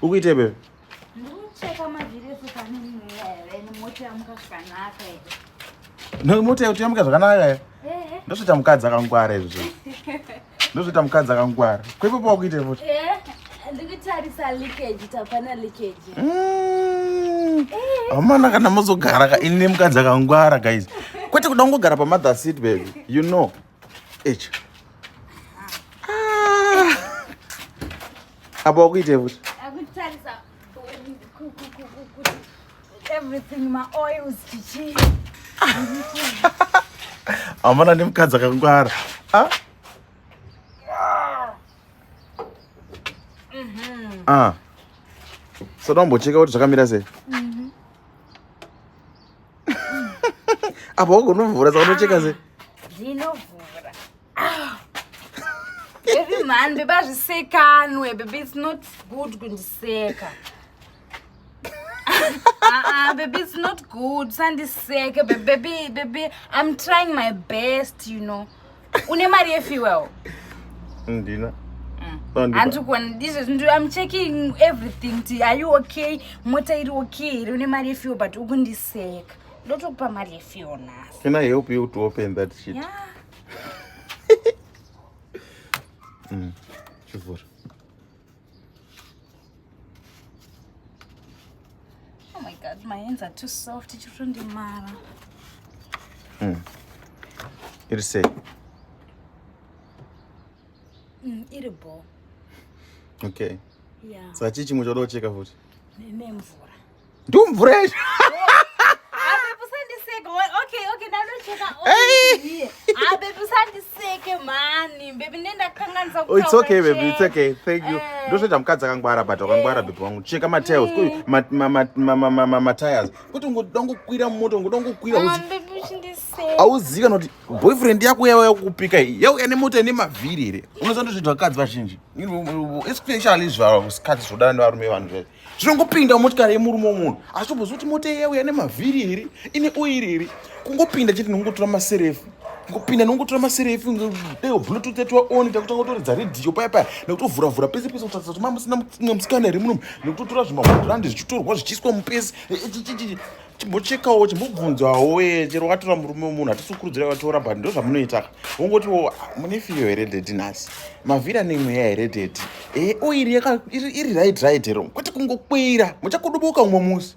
Ukuite bebe? Ndikucheka mavhiri ese pane mwewe nemota yamuka zvakanaka ere. No mota yakuti yamuka zvakanaka ere? Eh. Ndosvita mukadzi akangwara izvo. Ndosvita mukadzi akangwara. Kwepo pa ukuite futi? Eh. Ndikutarisa leakage tapana leakage. Mm. Eh. Amana kana mozogara ka ini mukadzi akangwara guys. Kwete kuda kungogara pa mother seat baby. You know. Echa. Apa wakuitei futi? Akutarisa everything ma oils chichi. Amana ndi mukadzi akangwara. Ah? Mhm. Ah. Soda umbocheka kuti zvakamira sei? Mhm. Apa wagonovhura saka unocheka sei? Ah, Ndinovhura. Baby man, baby azvisekanwe, baby it's not good kundiseka. Ah, baby it's not good sandiseke baby, baby, baby I'm trying my best, you know. Une mari yefuel? Ndina. Mm. Hanti kuona ndizvo I'm checking everything ti are you okay? Mota iri okay here? Une mari yefuel but ukundiseka. Ndotokupa mari yefuel nhasi. Can I help you to open that shit? Yeah. mm. chivhura oh my god my hands are too soft chirondimara mm. iri sei mm, iri bo okay yeah. sachii chimwe choda kucheka futi nemvura ndumvura yacho ndozvoita mukadzi akangwara but wakangwara bebe wangu cheka matails matires kuti ungoda kungokwira mumoto ungoda kungokwira ah, auzivi kana kuti boyfriend yako yava yakukupika iyi yauya nemoto ine mavhiri here unoziva ndozvoita vakadzi vazhinji especially zvasikadzi zvoda nevarume vanhu zvee zvinongopinda motikari yemurume womunhu asi tobvunza kuti mota iya uya nemavhiri iri ine oiri iri kungopinda chete nongotora maserefu kupinda nongotora maserefu deo bluetooth yatova on takutanga kutoridza redhiyo paya paya nekutovhura vhura pese pese kutarisa kuti mamusina mumwe musikana here munomu nekutotora zvimahundirandi zvichitorwa zvichiiswa mupesi chimbochekawo chimbobvunzawo wee chero watora murume wemunhu hatisukurudzira vatora but ndo zvamunoita wongotiwo mune fiyo here dedi nhasi mavhira nemweya here dedi e eh, oiri oh, iri right right hero kwete kungokwira muchakudubuka umwe musi